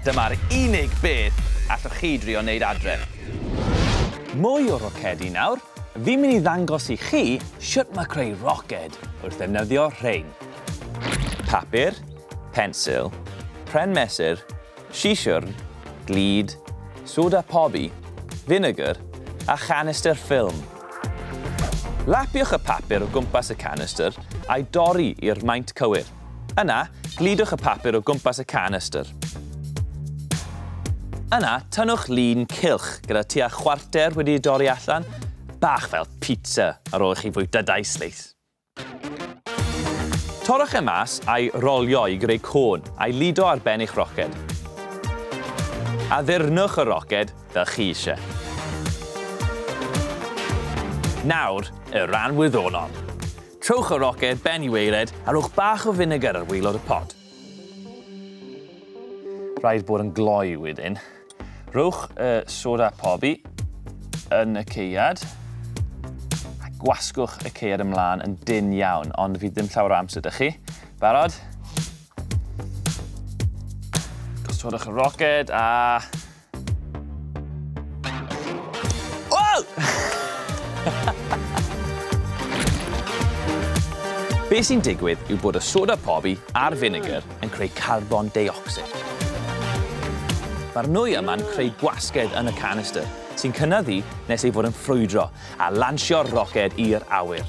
Dyma'r unig beth allwch chi drio wneud adre. Mwy o rocedi nawr, fi'n mynd i ddangos i chi shwt mae creu roced wrth ddefnyddio rhein. Papur, pensil, pren mesur, sisiwrn, glud, soda pobi, finegr a chanistr ffilm. Lapiwch y papur o gwmpas y canistr a'i dorri i'r maint cywir. Yna, gludwch y papur o gwmpas y canystr. Yna, tynnwch lun cylch gyda tua chwarter wedi ei dorri allan, bach fel pizza ar ôl i chi fwyta dau sleis. Torrwch e mas a'i rolio i greu côn a'i lido ar ben eich roced. Addurnwch y roced fel chi eisiau. Nawr, y rhan wyddonol. Trowch y roced ben i waered a rhowch bach o finegr ar waelod y pot. Rhaid bod yn gloi wedyn. Rhowch y soda pobi yn y ceiad a gwasgwch y ceiad ymlaen yn dyn iawn, ond fydd ddim llawer o amser da chi. Barod? Gosodwch y roced a Be sy'n digwydd yw bod y soda pobi a'r vinegar yn creu carbon deuocsid. Mae'r nwy yma'n creu gwasgedd yn y canister, sy'n cynyddu nes ei fod yn ffrwydro a lansio'r roced i'r awyr.